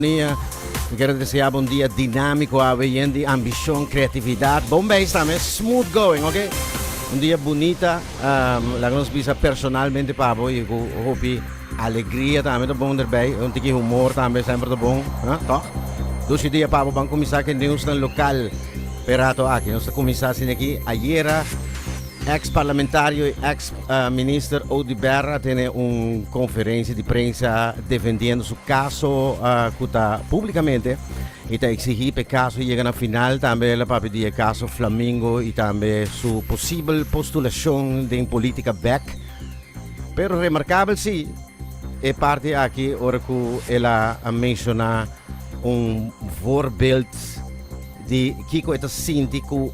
Nia, mi kere deseá bo un dia dinámiko awe, yen di ambishon, kreatividat, bon beis tambe, smooth going, oke? Un dia bunita, laga nos bisa personalmente pa bo i ku hopi alegria tambe ta bon derbei, un tiki humor tambe semper ta bon, a? Tòg? Dus i dia pa bo ban kuminsá ku e neusnan lokal p'e rato aki. Nos ta kuminsá asina aki ayera. Ex parlamentario y ex minister Ody Berra tene un conferencia di prensa defendiendo su caso cu ta publicamente y ta exigi p'e caso yega na final, tambe el a papia di e caso Flamingo y tambe su posibel postulacion den politica bek. Pero remarcabel si e parti aki ora cu el a menciona un voorbeeld di kico e ta sinti cu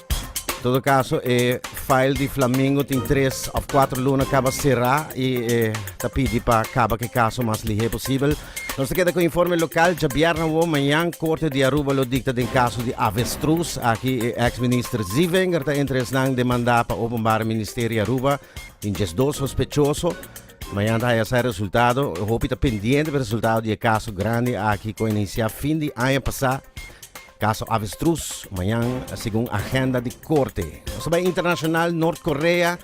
todo caso e file di Flamingo tin tres of cuatro luna caba sera y e ta pidi pa caba cu e caso mas lihe posibel. Nos ta keda cu informe local djabierna awo mañan Corte di Aruba lo dicta den caso di avestruz. Aki e ex minister Ziewenger ta entre esnan demanda pa Openbare Ministerie Aruba tin diesdos sospechoso. Mañan ta haya sa resultado. Hopi ta pendiente pa resultado di e caso grandi aki cu a inicia fin di aña pasa. Kaso Avestruz mañan segun agenda di korte. Nos ta bai internashonal, Nort Korea,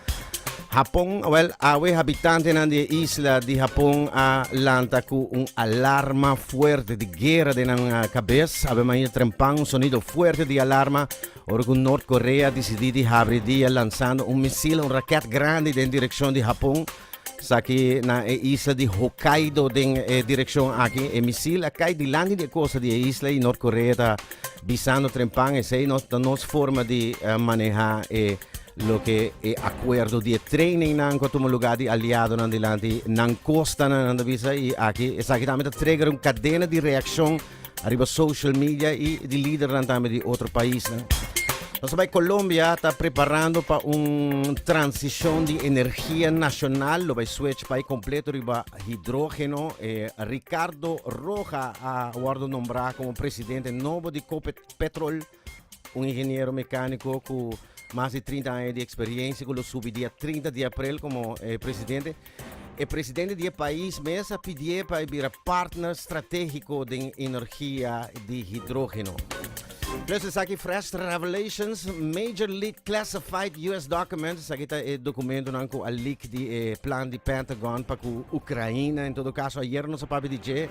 Hapon, wel awe habitantenan di e isla di Hapon a lanta ku un alarma fuerte di guera den nan kabes. Awe maña trempan un sonido fuerte di alarma ora ku Nort Korea disidí di habri dia lansando un misil, un rakèt grandi den direkshon di Hapon. Esaki na e isla di Hokkaido den e direccion aki. E misil a cai dilanti di e costa di e isla y North Korea ta bisando trempan esey nos ta nos forma di eh, maneha e loke e acuerdo di e training nan cu a tuma lugar di aliado nan dilanti nan costa nan, nan ta bisa y aki esaki tambe ta trigger un cadena di reaccion ariba social media y di lidernan tambe di otro paisnan. Nos ta bay Colombia ta preparando pa un transicion di energia nacional, lo bay switch bay completo riba hidrogeno. Eh, Ricardo Roja a wordo nombra como presidente nobo di Copetrol. Un ingeniero mecanico cu mas di trinta aña di experiencia cu lo subi dia trinta di april como e presidente. E presidente di e pais mes a pidié pa e bira partner strategico den energia di hidrogeno. Plus esaki fresh revelations, major leak classified US documents, esaki ta e documentonan cu a leak di e plan di Pentagon pa cu Ucraina, en todo caso ayer nos a papia di dje,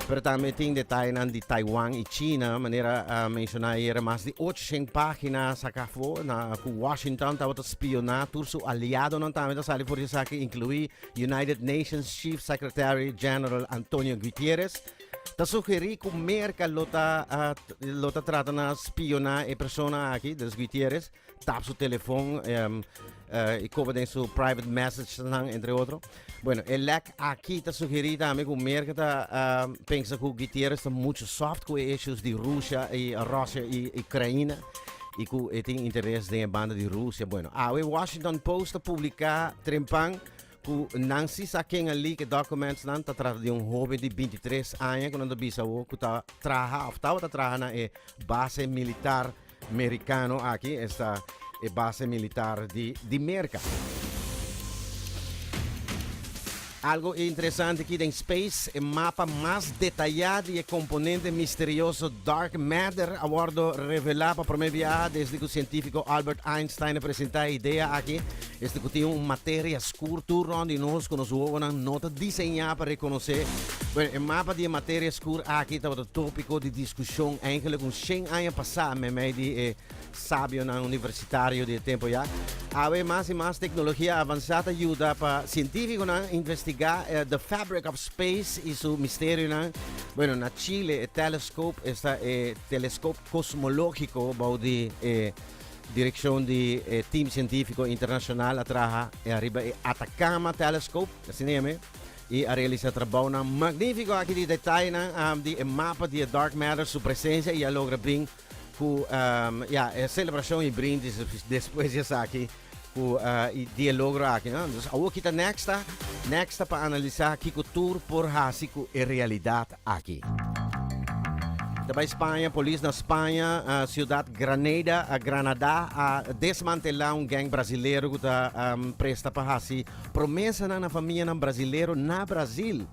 Pero tambe tin detayenan di Taiwan i China, manera a menshoná ayera. Mas di ochociènt página a saká afó na ku Washington tabata spioná tur su aliadonan. Tambe ta sali for di esaki inkluí United Nations Chief Secretary General Antonio Guitierrez. Ta sugerí ku Merka lo ta lo ta trata na spioná e persona aki, dat is Guitierrez. tap su telefon um, uh, y coba den su private messages entre otro. Bueno, el lek aquí ta sugeri también que Merkel ta uh, pensa que Gutierrez está mucho soft con issues de Rusia y Rusia y Ucrania y que él tiene interés en la banda de Rusia. Bueno, ahora Washington Post ha publicado trempan ku nan si sa ken ali ke documents nan ta trata de un joven de 23 años que nan ta bisa o ku ta traha of ta ta traha na e base militar Mericano aki esta e base militar di di Merca. Algo interesante aki den space, e mapa mas detaya di e componente misterioso dark matter a wordo revela pa prome biaha desde cu cientifico Albert Einstein a presenta e idea aki. Esnan ku tin un materia skur tur rònt di nos ku nos wowonan no ta diseñá pa rekonosé. Bueno, e mapa di e materia skur aki tabata tópiko di diskushon eingelik un shen aña pasá meimei di e sabionan universitario di e tempu ya. Awe mas i mas teknologia avansá ta yuda pa sientífikonan investigá e the fabric of space i su misterionan. Bueno, na Chile e telescope esta e teleskop kosmológiko bou di e. Direkshon di e tim sientífiko internashonal a traha ariba e Atacama Telescope, asina e ami, i a realisá trabounan magnífiko aki di detayenan di e mapa di e dark matter, su presensia i a logra bring ku, ya, e selebrashon i brindis despues di esaki. Ku e dialogro aki no. Dus awor kita Nexta. Nexta pa analisá kiko tur por hasi ku e realidat aki. Ta bai Spaña, Polis na Spaña, siudat Granada, Granadá, a desmantelá un gèng brasilero ku ta presta pa hasi promesanan na famianan brasilero na Brazil.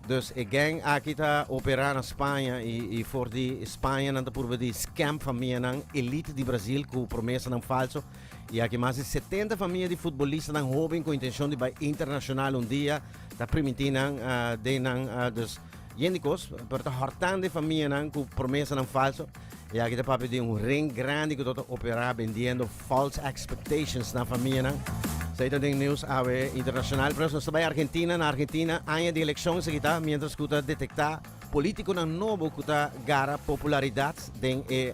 Dus e gang aki ta operá na Spaña i for di Spañanan ta purba di scam famianan elite di Brazil ku promesanan falso. I aki mas di setenta famia di futbolistanan hoben ku intenshon di bai internashonal un dia ta primintí nan den nan. Dus yen di kos, pero ta hòrtande famianan ku promesanan falso. E aki ta papia di un ring grandi ku ta ta operá bendiendo false expectations na famianan. Esei ta den news awe internashonal. Pero nos ta bai Argentina. Na Argentina aña di elekshon esaki ta miéntras ku ta detektá polítikonan nobo ku ta gara popularidat den e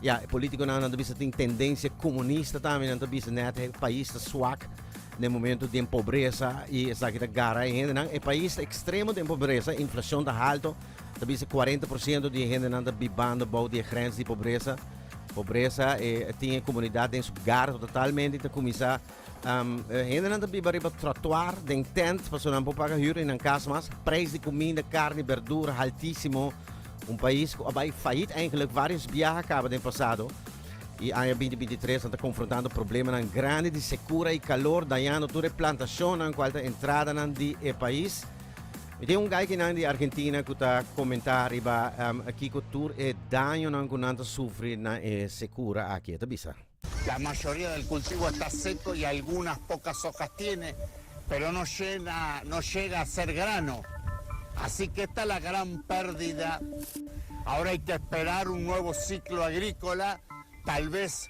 Ya, e polítikonan nan ta bisa tin tendensia komunista tambe. Nan ta bisa nèt e pais ta swak den momentu den pobresa i esaki ta gara e hendenan. E pais ta ekstremo den pobresa, inflashon ta halto ta bisa cuarenta por ciento di e hendenan ta bibando bou di e grens di pobresa. Pobresa e tin e comunidad den su gardo totalmente ta cuminsa um, e hendenan ta biba riba trotuar den tent paso nan por paga huur y nan cas mas. Prijs di comida, carne, berdura haltísimo. Un país cu a bai faillit eigenlijk varios biaha caba den pasado. Y aña 2023 nan ta confrontando problemanan grandi di secura y calor dañando tur e plantacionnan cual ta entradanan di e país. Mi tin un gaikinan di Argentina ku ta komentá riba em, kiko tur e dañonan ku nan ta sufri na e sekura aki. E ta bisa. La mayoría del cultivo está seco y algunas pocas hojas tiene, pero no llena, no llega a ser grano. Así que esta es la gran pérdida. Ahora hay que esperar un nuevo ciclo agrícola, tal vez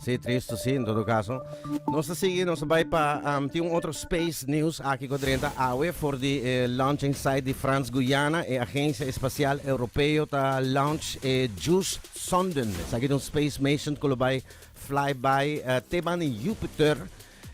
Si, tristu si, en todo kaso. Nos ta sigui, nos a bai pa, tin un otro space news aki ku drenta awe for di e launching site di Frans Guyana, e agensia espasial Europeo ta launch e Juice Sonden, esaki ta un space mation ku lo bai fly bai te banda Jupiter,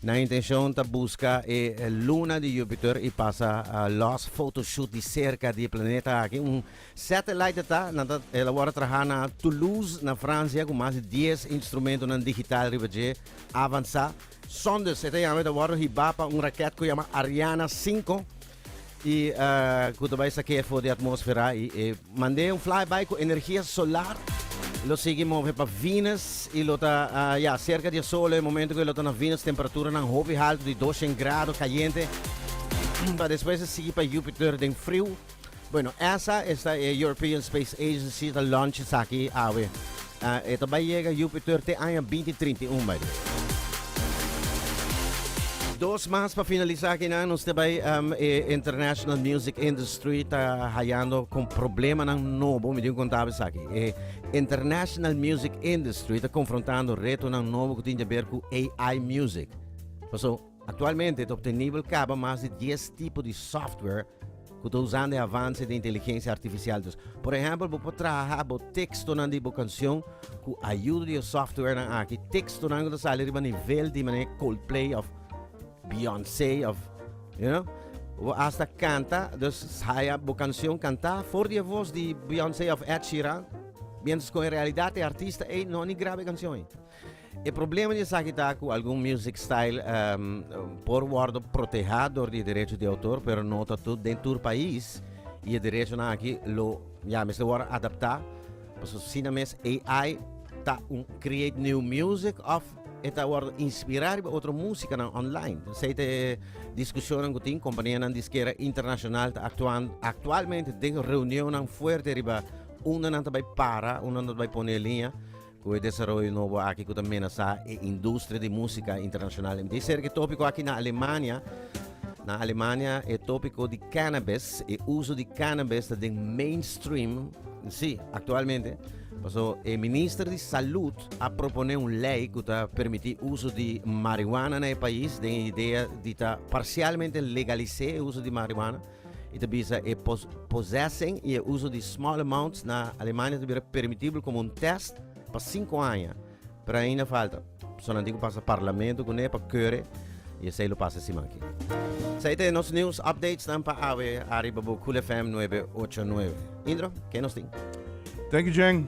Nan intencion ta busca e luna di Jupiter y pasa los photoshoot di cerca di e planeta aki. Un satellite ta, nan ta el awor traha na Toulouse na Francia cu mas di dies instrumentonan digital riba dje avansa. Sondes e ta yama, e ta wordo hiba pa un raket cu yama Ariana cinco. Y cu ta bay saqué afo di atmósfera y e mandé un flyby cu energía solar lo sigui move pa Venus y lo ta ya cerca di e Sol e momento cu e lo ta na Venus temperaturanan hopi halto di doshen grado cayente pa despues e sigui pa Jupiter den friu. Bueno esa esta e European Space Agency ta launch esaki awe. E ta bai yega Júpiter te aña binti trinta i un bai. Dos mas pa finalisá akinan nos te bai e international music industry ta hayando kon problemanan nobo. Mi tin ku konta bo esaki. E international music industry ta konfrontando retonan nobo ku tin di aber ku AI music. Paso. Aktualmente ta obtenibel kaba mas di dies tipo di software ku ta usando e avanse den inteligensia artifisial. Dus, por ehèmpel bo por traha bo tekstonan di bo kanshon ku ayuda di e softwarenan aki, tekstonan ku ta sali riba nivel di manera Coldplay òf Beyoncé òf you know, ku bo asta kanta, dus haya bo kanshon kantá for di e vos di Beyoncé òf Ed Sheeran, miéntras ku en realidat e artista ei no a ni graba e kanshon ei. E problema di esaki ta ku algun music style por wòrdu protehá dor di e derecho di outor pero no ta den tur pais i e derechonan aki lo ya mester wòrdu adaptá. Pasobra asina mes AI ta un create new music òf e ta wòrdu inspirá riba otro músikanan online. Esei ta e diskushonnan ku tin. Kompanianan diskera internashonal ta aktuando aktualmente den reunionnan fuerte riba unda nan ta bai para, unda nan ta bai pone e liña. Cu e desaroyo nobo aki cu ta menasa e industria di musica internacional? Mi ta histori cu e topico aki na Alemania, na Alemania e topico di cannabis, e uso di cannabis ta den mainstream, si, actualmente, paso e minister di salud a propone un ley cu ta permiti uso di marihuana na e pais den e idea di ta parcialmente legalis'e e uso di marihuana. I ta bisa e possessing i e uso di small amounts na Alemania ta bira permitibel komo un tèst pa sinku aña, pero ainda falta pesonanti ku pasa parlamento kuné pa kore i esei lo pasa e siman aki. Esei ta e nos news updatesnan pa awe ariba bo Cool FM nuebe ocho nuebe. Indro, ke nos tin? Thank you Jeng.